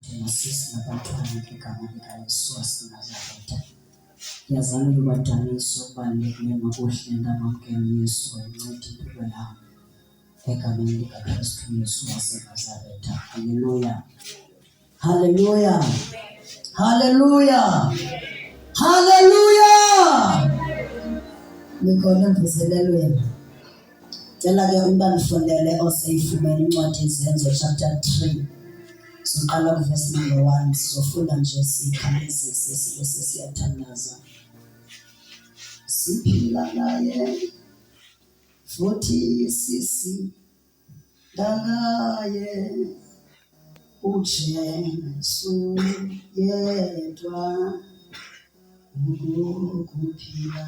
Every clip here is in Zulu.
njengasisi nabantwana ngegama likaYesu waseNazaretha. Yazani ngibadanisa okubalulekile ngokuhle ngamamkela uYesu wayinceda impilo yami egameni likaKristu Yesu waseNazaretha. Haleluya! Haleluya! Haleluya! Haleluya! Nikhona emvuselelweni. Cela ke umntu andifundele oseyifumene incwadi yezenzo chapter 3 siqala kuvesi number 1 sizofunda nje sikhawulezise sibe sesiyathandaza siphila naye futhi sisi dalaye uJesu yedwa ukuphila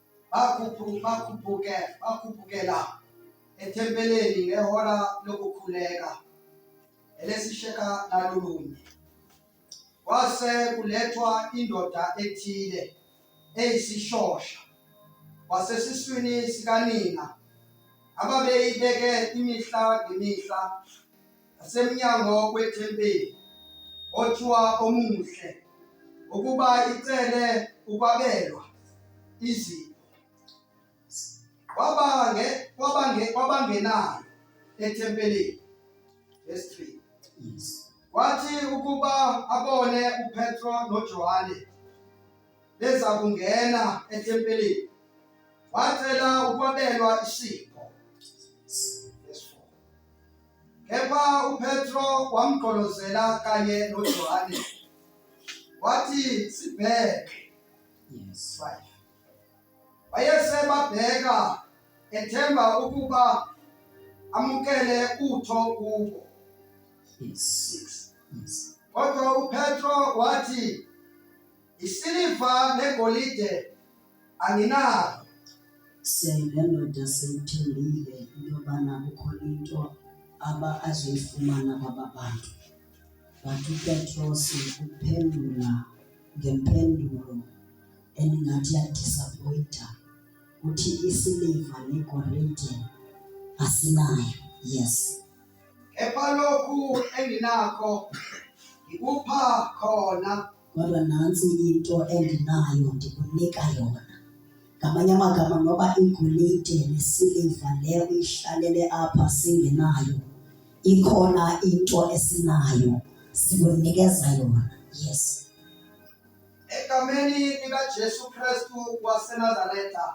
bakhuphukela ethempeleni ngehora lokukhuleka elesisheka nalulunye kwase kulethwa indoda ethile eyisishosha wasesiswini sikanina ababeyibeke imihla ngemihla asemnyango wethempeli othiwa omuhle ukuba icele ukwabelwa izipho kwabange kwabange kwabangenayo ethempelini verse 3 yes wathi ukuba abone uPetro noJohane beza kungena ethempelini wacela ukwabelwa isipho Kepha uPetro wamgqolozela kanye noJohane. Wathi sibheke. Yes. Right. Wayesebabheka ethemba ukuba amukele utho kubo. Yes. Yes. Kodwa uPetro wathi isiliva negolide anginalo sengendoda seyithembile into yobana kukhona into aba azoyifumana kwaba bantu but upetros uphendula ngempendulo endingathi yadisappoyinta uthi isiliva negolide asinayo yes kepha lokhu enginakho ngikupha khona kodwa nantsi into endinayo ndikunika yona ngamanye amagama noba igolide nesiliva le uyihlalele apha singenayo ikhona into esinayo sikunikeza yona yes egameni likajesu kristu wasenazaretha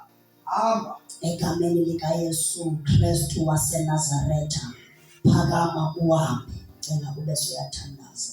hamba egameni likayesu kristu wasenazaretha phakama uhambe cela ube suyathandaza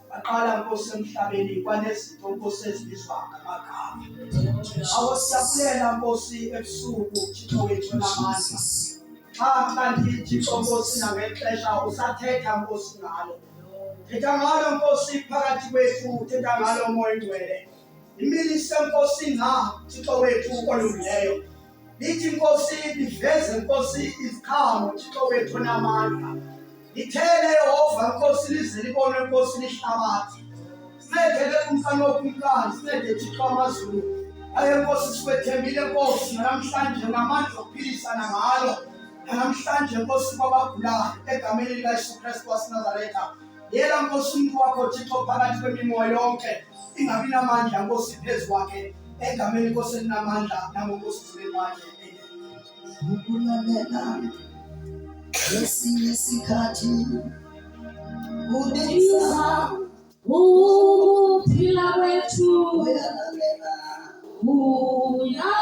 Baqala Nkosi emhlabeni kwanezinto Nkosi ezibizwa ngamagama. Awosiyabulela Nkosi ebusuku Thixo wethu namandla. Xa kanti Thixo Nkosi nangexesha usathetha Nkosi ngalo. Thetha ngalo Nkosi phakathi kwethu, thetha ngalo moya ngcwele. Imilise Nkosi na Thixo wethu olungileyo. lithi inkosi liveze inkosi iziqhamu thixo wethu onamandla lithele yehova inkosi lize libone inkosi lihlabathi sincedele umfana wokumkani sincede thixo amazulu aye nkosi sikwethembile nkosi namhlanje namandla okuphilisana ngalo namhlanje nkosi kwabagulayo egameni likayesu kristu wasenazaretha Yela Nkosi umuntu wakho Thixo phakathi kwemimoya yonke ingabi namandla Nkosi phezu kwakhe egameni Nkosi elinamandla nangoNkosi emzimeni wakhe. Ukulalela esinye isikhathi kubiza ukuphila kwethu uyalalela uyalalela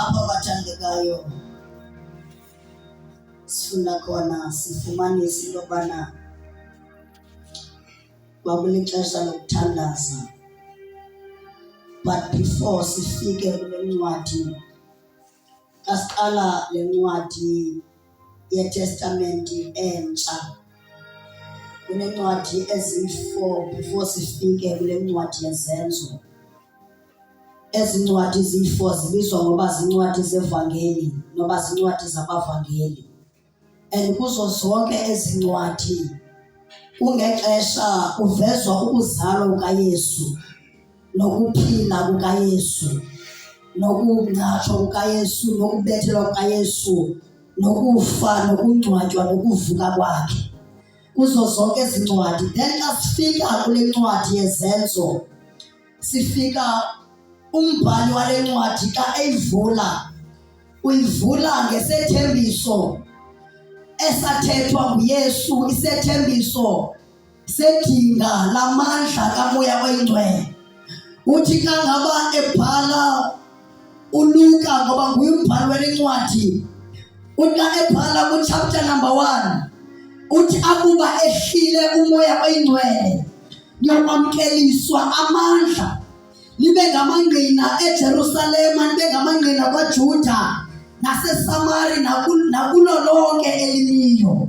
Apho abathandekayo sifunda khona sifumanisa into yobana kwakulixesha lokuthandaza but before sifike kule ncwadi asiqala le ncwadi yetestamenti entsha kunencwadi eziyi-four before sifike kule ncwadi yezenzo Ezincwadi zifo zibizwa ngoba zincwadi zevangeli noma zincwadi zabavangeli. And kuzo zonke ezincwadi kungexesha kuvezwa ukuzalwa kukaYesu nokuphila kukaYesu nokungcatshwa kukaYesu nokubethelwa kukaYesu nokufa nokungcwatshwa nokuvuka kwakhe kuzo zonke izincwadi then xa sifika kule ncwadi yezenzo sifika umbhali wale ncwadi xa eyivula uyivula ngesethembiso esathethwa nguyesu isethembiso sedinga lamandla kamoya oyingcwele uthi xa ngaba ebhala uLuka ngoba nguye umbhali wencwadi uthi ebhala ku chapter number 1 uthi akuba ehlile umoya oyingcwele ngiyokwamkeliswa amandla libe ngamangqina eJerusalema libe ngamangqina kwaJuda naseSamari nakulo lonke elimiyo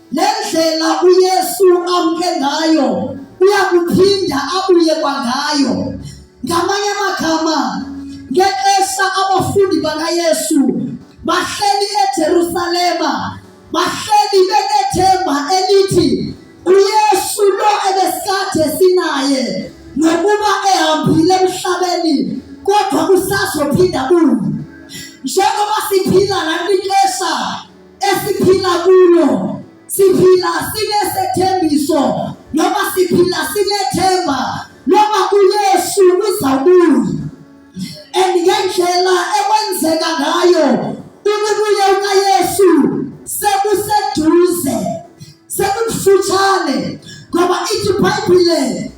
Le ndlela uYesu amke ngayo uyakuphinda abuye kwangayo. Ngamanye amagama, ngexesha abafundi bakaYesu bahleli eJerusalema, bahleli benethemba elithi uYesu lo ebesade sinaye nokuba ehambile emhlabeni kodwa usazophinda kuyo njengoba siphila la kwixesha esiphila kulo siphila sinesethembiso noma siphila sinethemba noma uYesu uzabuya and ngendlela ekwenzeka ngayo ukubuya ukaYesu sekuseduze sekufutshane ngoba ithi ibhayibhile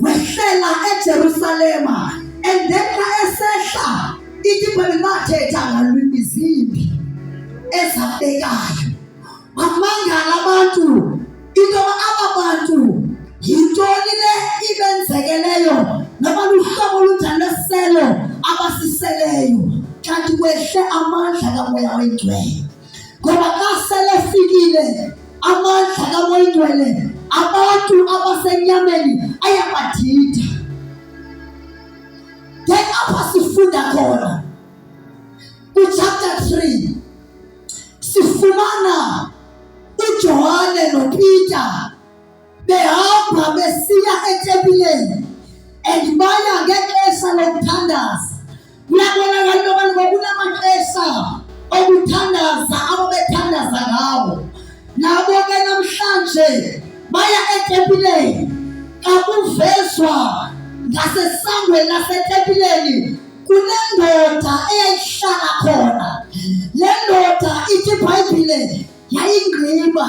wehlela eJerusalema and then xa esehla ithi ibhayibhile bathetha ngalwimi zimbi ezabekayo bamangala abantu into aba bantu yintoni le ibenzekeleyo nabaluhlobo olunjani lesiselo abasiseleyo kanti kwehle amandla kamoya oyingcwele ngoba xa selefikile amandla kamoyingcwele abantu abasenyameni ayabadida ke apha sifunda khona kwichapter 3 sifumana ujohane nopeter behamba besiya etempileni and baya ngexesha lokuthandaza kuyabonakala into yoba ngokunamaxesha okuthandaza abo bethandaza ngawo nabo ke namhlanje baya etempileni kakuvezwa ngasesangweni lasetempileni kunendoda eyayihlala khona le ndoda ithi ibhayibhile yayingqiba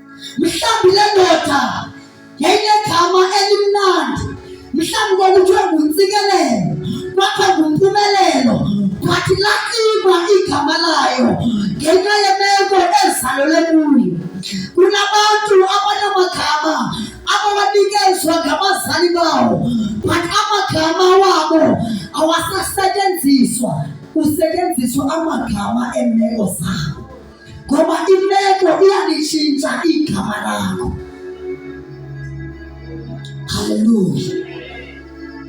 mhlawumbi le ndoda yayinegama elimnandi mhlawumbi kwakuthiwe nguntsikelelo kwakho ngumpumelelo kwathi laciba igama layo ngenxa yemeko ezalole kuyo kunabantu abanamagama abawanikezwa ngabazali bawo but amagama wabo awasasetyenziswa kusetyenziswa amagama eemeko zabo ngoba imeko iyalishintsha igama lakho. Haleluya!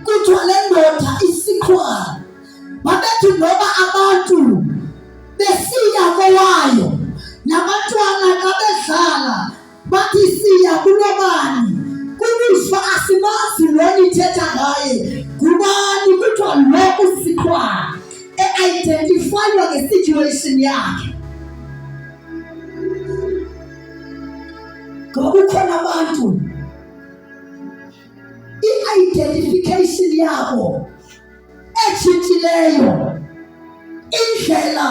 Kuthiwa le ndoda isikhwala, babethi ngoba abantu besiya kowayo nabantwana xa bedlala bathi siya kulobani kubushwa asimazi lo nithetha ngaye ngubani kuthiwa lo usikhwana e-identifywa nge-situation yakhe ngoba kukhona abantu i-identification yabo etshintshileyo indlela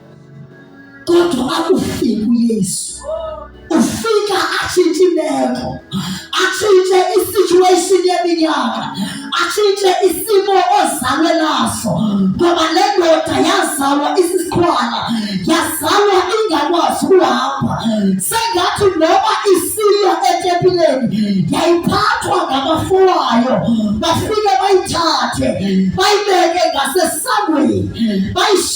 kodwa akufiki uYesu ufika atshintshe imeko atshintshe isituation yeminyaka atshintshe isimo ozalwe naso ngoba le ndoda yazalwa isisikhwala yazalwa ingakwazi ukuhamba sengathi noma isiya etempileni yayiphathwa ngabafowayo bafike bayithathe bayibeke ngasesangweni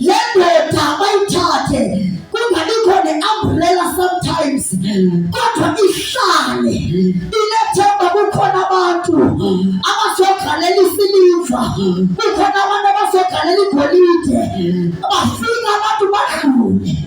le ndoda bayithathe kungabi khona umbrella sometimes kodwa ihlale inethemba kukhona abantu abazogalela isiliva kukhona abantu abazogalela igolide bafika abantu badlule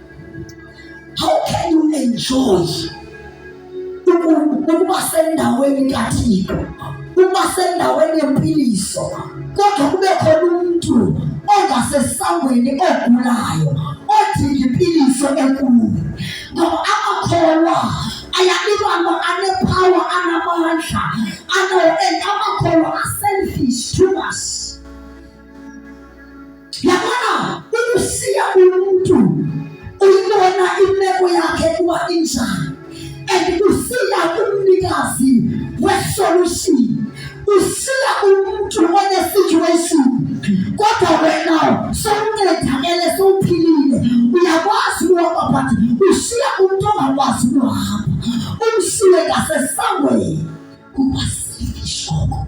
How can you enjoy ukuba sendaweni kaThixo, ukuba sendaweni yempiliso, kodwa kube khona umuntu ongasesangweni ogulayo odinga impiliso enkulu ngoba amakholwa ayanikwa lo anephawa anamandla ano and amakholwa aselfish to us yabona ukusiya umuntu uyibona imeko yakhe kuba injani and kusiya kumnikazi wesolution usiya umuntu onesituation kodwa wena sowuncedakele sowuphilile uyakwazi ukuhamba but ushiya umuntu ongakwazi ukuhamba umshiye ngasesangweni kuba sifishoko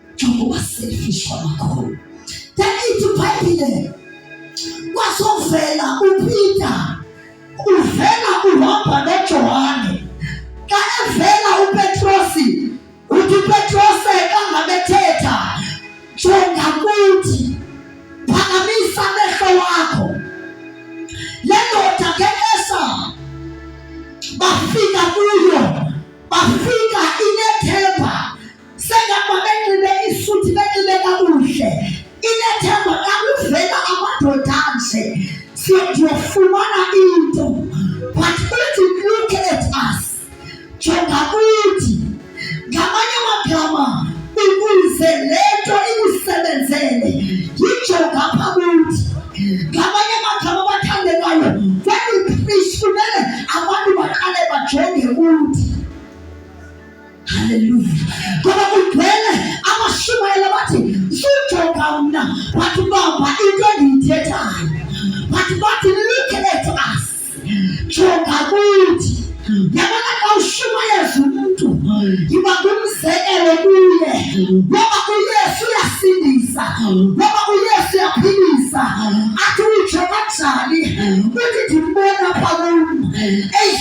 njengoba selfish kwamakhulu danithi ibhayibhile kwazovela upeter uvela uhamba nojohane xa evela upetrosi uthi upetrose kangabethetha jonga kuthi phakamisa amehlo wakho le ndoda ngekesa bafika kuyo bafika Sengapha benxibe isuthi benxibe kakuhle. Inethemba kakuvela amadoda anje. Siyofumana into. But uthi look at us. Jonga kuthi. Ngamanye amagama ukuze lento ikusebenzele. Yijonga pha kuthi. Ngamanye amagama abathandekayo when we preach kumele abantu baqale bajonge kuthi. haleluya ngoba kugcwele abashumayela bathi sujoka mna but bamba into endiyithethayo but bathi look at us jonga kuthi yabona xa ushumayeza umuntu yiba ngumzekelo kuye ngoba uyesu uyasindisa ngoba uyesu uyaphilisa athi utsho kanjani uthi ndimbona pha kum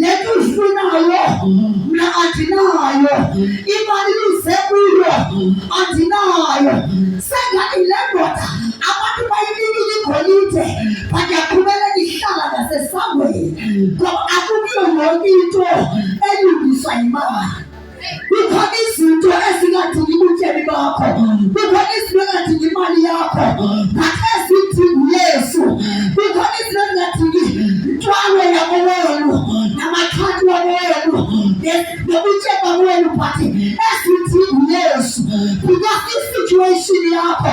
lento uyifunayo mna andinayo imali luze kuyo andinayo sengathi le ndoda abantu bayinikile igolide but yaqhubeka ihlala ngasesangweni ngoba akukuyo yonke into elungiswa yimali kukhona izinto ezingadingi ubutsheni bakho kukhona izinto engadingi imali yakho but ezidinga uyesu kukhona izinto ezingadingi ntwalo yabo wenu namakhadi wabo wenu nobutsheni babo wenu but ezidinga uyesu because isituation yakho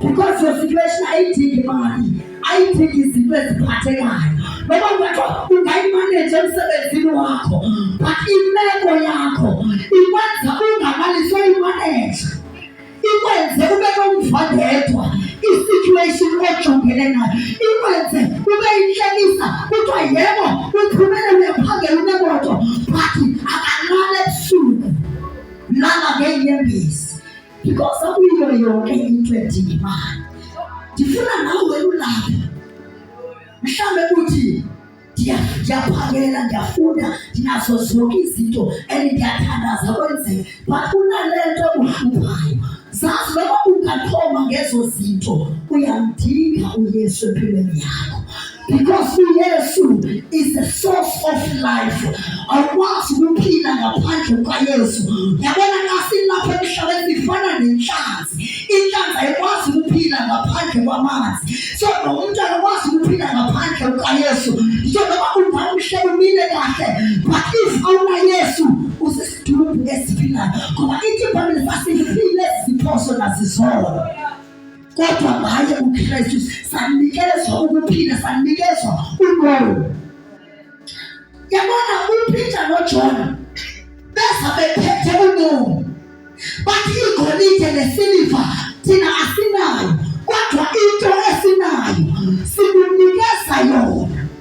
because your situation ayidingi imali ayidingi izinto eziphathekayo noma ungathiwa ungayimaneje emsebenzini wakho but imeko yakho ikwenza ungamaliswa imaneja ikwenze ube nomvandedwa i-situation ojongene nayo ikwenze ube inhlekisa kuthiwa yebo uphumele uyaphangela unemoto but akalala ebusuku lala ngeenyembezi because akuyiyo yonke into edinga imali ndifuna nawe ulapha mhlawumbe kuthi ndiyaphakela ndiyafunda ndinazo zonke izinto and ndiyathandaza kwenzeka but kunale nto uhluphayo zazi noma ungathoma ngezo zinto uyamdinga uyesu empilweni yakho because uyesu is the source of life awukwazi ukuphila ngaphandle kukayesu yabona kasilapha emhlabeni sifana nenhlanzi inhlanzi ayikwazi ukuphila ngaphandle kwamanzi so nomuntu akakwazi ukuphila ngaphandle kukayesu so noma ungaba umhlaba umile kahle but if awunayesu usisithubu esiphilayo ngoba ithi ibhayibhile sasifile siphoso nazizono kodwa ngaye uKristu sanikezwa ukuphila sanikezwa umoya yabona uPeter noJohn beza bephethe umoya bathi igolide nesiliva thina asinayo kodwa into esinayo sikunikeza yona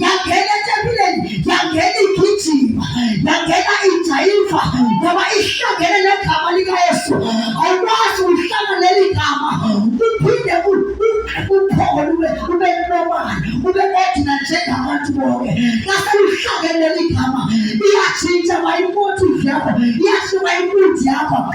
yangena etempileni yangena igijima yangena ijayiva ngoba ihlangene negama likayesu awukwazi uhlanga leli gama uphinde uphole ube normal ube ordinary njengabantu bonke ngase uhlangene leli gama iyatshintsha mayimotive yakho iyashiba impunzi yakho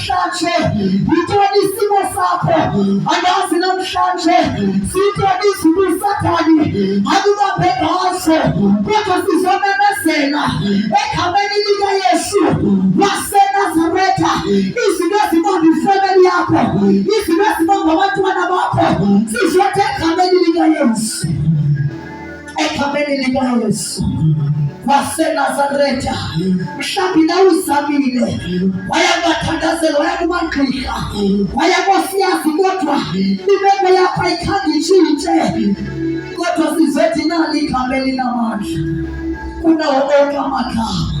namhlanje yintoni isimo sakho andazi namhlanje sintoni izulu sathani akubambe ngaso kodwa sizomemezela egameni likayesu wasenazaretha izinto ezibamba ifemeli yakho izinto ezibamba abantwana bakho sizothe egameni likayesu egameni likayesu wasenazaretha mhlawumbi na uzamile waya kubathandazela waya kumagqirha waya kosiyazi kodwa imeko yakho ayikhange itshintshe kodwa sizothi nali igama elinamandla kunawo onke amagama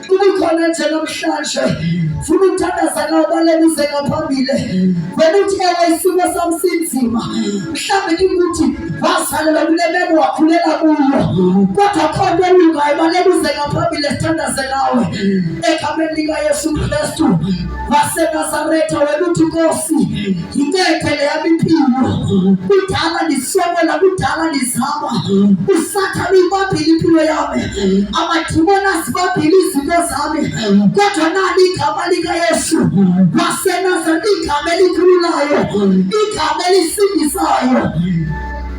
kukhona nje namhlanje funa ukuthandaza nawo balekuze ngaphambili vele uthi ewe isimo sami sinzima mhlawumbe kikuthi wazalelwa kule meko wakhulela kuyo kodwa khona elungayo balekuze ngaphambili sithandaze nawe egameni likayesu kristu waseNazaretha wena uthi Nkosi ngikethe leya impilo kudala ndiswekela kudala ndizama usathane uyibambile impilo yami amadimoni azibambile izinto zami kodwa nani igama likayesu wasenazaretha igama elikhululayo igama elisindisayo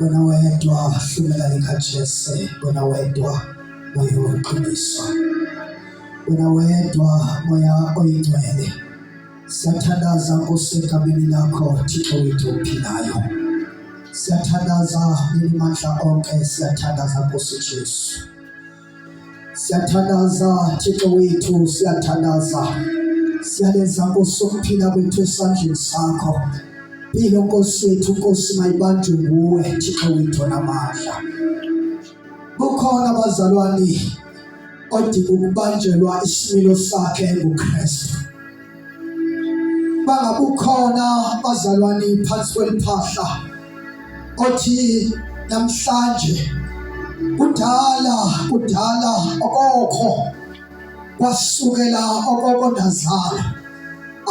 wena wedwa hlumela likaJese wena wedwa moya weqiniso wena wedwa moya oyingcwele siyathandaza nkosi egameni lakho thixo wethu ophilayo siyathandaza nini mandla onke siyathandaza nkosi jesu Siyathandaza Thixo wethu, siyathandaza siyalenza Nkosi ukuphila kwethu esandleni sakho. Philo Nkosi yethu, Nkosi mayibanjwe nguwe Thixo wethu namandla. Kukhona abazalwane odinga ukubanjelwa isimilo sakhe nguKristu. bangabukhona bazalwane phansi kweliphahla othi namhlanje kudala kudala okokho kwasukela okoko ndazala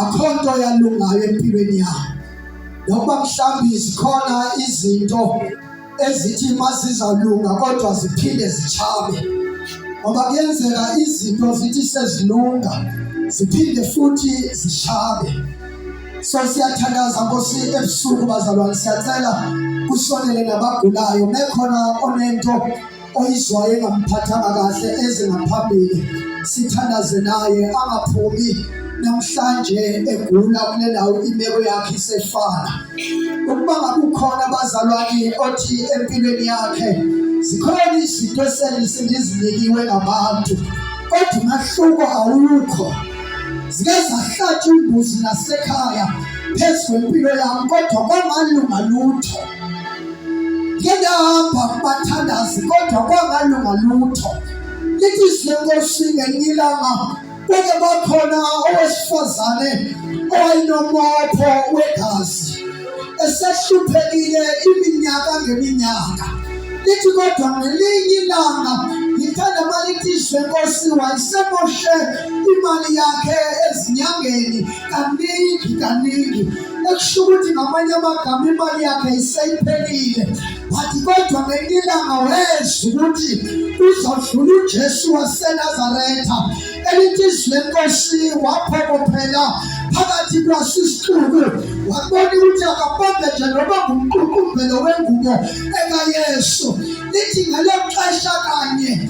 akho nto yalungayo empilweni yabo nokuba mhlawumbi zikhona izinto ezithi mazizalunga kodwa ziphinde zichabe ngoba kuyenzeka izinto zithi sezilunga ziphinde futhi zishabe so siyathandaza nkosi ebusuku bazalwane siyacela kusonele nabagulayo mekhona onento oyizwayo engamphathanga kahle ezingaphambili sithandaze naye angaphumi namhlanje egula kule ndawo imeko yakhe isefana ukuba ngakukhona abazalwane othi empilweni yakhe zikhona izinto eselise ndizinikiwe ngabantu kodwa umahluko awukho zike zahlatshwa imbuzi nasekhaya phezu kwempilo yami kodwa kwamalunga lutho Ngiyahamba kubathandazi kodwa kwangalunga lutho. Lithi izinkosi ngelinye ilanga kwake bakhona owesifazane owayenomopho wegazi esehluphekile iminyaka ngeminyaka lithi kodwa ngelinye ilanga ngithanda malithi izwe nkosi wayesemoshe imali yakhe ezinyangeni kaningi kaningi ekusho ukuthi ngamanye amagama imali yakhe iseyiphelile wathi kodwa ngenye ilanga wezwa ukuthi uzodlula ujesu wasenazaretha elithi izwi lenkosi waphokophela phakathi kwasisixuku wabona ukuthi akabambe nje noba ngumququmbelo wengubo ekayesu lithi ngelo xesha kanye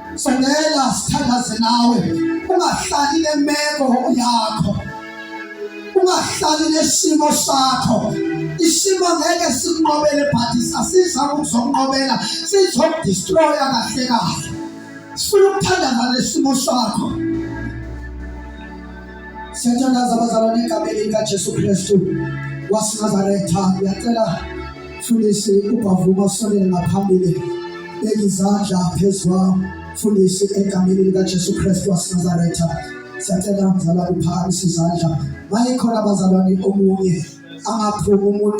Songela sithandaze nawe ungahlali nemeko yakho ungahlali nesimo sakho isimo ngeke sikunqobele but sasiza ukuzokunqobela sizokudestroya kahle kahle sifuna ukuthandaza nesimo sakho Siyathandaza abazalwane egameni likaJesu Kristu waseNazaretha. Ngiyacela mfundisi ubhavuma usondele ngaphambili beka izandla phezu kwawo mfundisi egameni likaJesu Kristu waseNazaretha. Siyacela mzalwane uphakamise izandla. Mayekhona abazalwane omunye angaphumi umuntu